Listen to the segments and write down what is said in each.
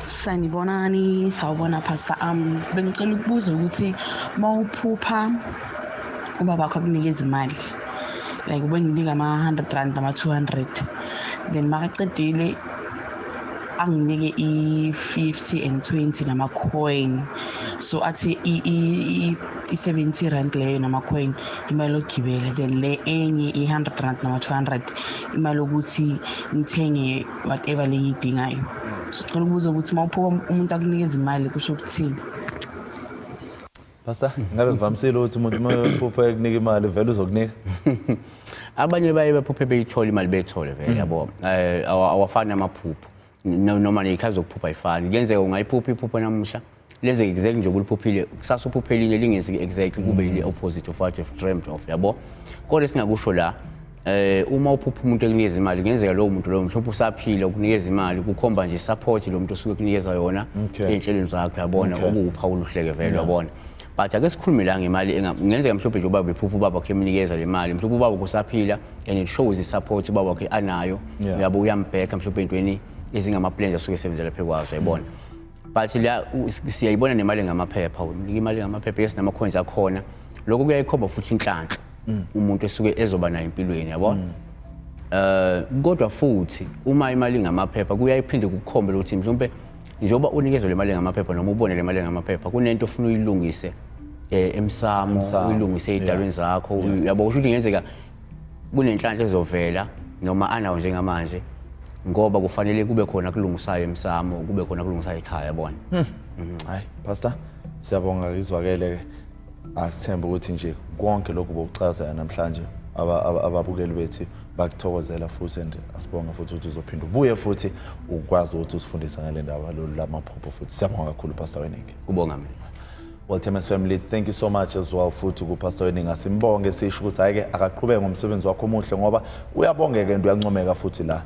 Sanibonani, sawubona Pastor am. Um, bengicela ukubuza ukuthi mawuphupha ubaba wakho akunika izimali like ubenginika ama-hundred rand nama-two hundred then makaqedile anginike i-fifty and twenty nama-coin so athi i-seventy rand leyo nama-coin imali yokugibela then le enye i-hundred rand nama-two hundred imali yokuthi ngithenge whatever le ngiyidingayo sicela ukubuza ukuthi uma uphuka umuntu akunikeza imali kusho ukuthini Pastor, ngabe ngivamisile ukuthi umuntu uma ephupha ekunika imali vele uzokunika. Abanye baye bephuphe beyithola imali beyithole vele mm. yabo. Eh awafani amaphupho. Noma nezikhali zokuphupha ayifani. Kuyenzeka ungayiphupha iphupho namuhla lenze exact nje kuliphuphile kusasa uphuphelile lingenzi exact kube yile opposite of what you've dreamed of yabo kodwa singakusho la eh uma uphupha umuntu ekunikeza imali kungenzeka lowo muntu lowo mhlawumbe usaphila ukunikeza imali kukhomba nje support lo muntu osuke kunikeza yona Okay. ey'nhlelweni zakhe yabona Okay. okuwuphawu oluhleke vele yabona but ake sikhulume la ngemali enga- kungenzeka mhlawumbe nje ubaba ephupha ubaba wakhe emnikeza le mali mhlawumbe ubaba wakhe usaphila and it shows i-support ubaba wakhe anayo Yeah. uyabo uyambheka mhlawumbe entweni ezingama-plans asuke esebenzela phe kwazo yayibona but la siyayibona nemali ngamaphepha unika imali ngamaphepha yes namakhonzi akhona lokho kuyayikhomba futhi inhlanhla mm. umuntu esuke ezoba nayo empilweni yabo mm. eh kodwa futhi uma imali ngamaphepha kuyayiphinde kukhombe ukuthi mhlawumbe njengoba unikezwe le mali ngamaphepha noma ubone le mali ngamaphepha kunento ofuna uyilungise eh emsamo uyilungise idalweni zakho yabo kusho ukuthi ngenzeka kunenhlanhla ezovela noma anawo njengamanje ngoba kufanele kube khona kulungisayo emsamo kube khona kulungisayo ekhaya yabona hmm. mhm. hayi pastor siyabonga izwakele ke asithembe ukuthi nje konke lokhu bokuchaza namhlanje ababukeli bethu bakuthokozela futhi and asibonga futhi ukuthi uzophinda ubuye futhi ukwazi ukuthi usifundise ngale ndaba lolu lamaphupho futhi siyabonga kakhulu pastor weningi kubonga mina Well, Temes family, thank you so much as well futhi kuPastor Weninga. Simbonge sisho ukuthi hayi ke akaqhubeke ngomsebenzi wakho omuhle ngoba uyabongeka and uyancomeka futhi la.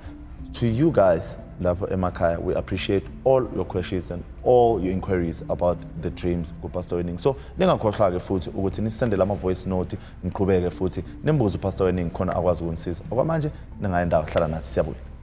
To you guys lapho emakhaya, we appreciate all your questions and all your inquiries about the dreams kuPastor Weninga. So ningakhohlwa ke futhi ukuthi nisendele ama voice note niqhubeke futhi nimbuze uPastor Weninga khona akwazi ukunisiza. Okwamanje ningayendawo hlala nathi siyabuya.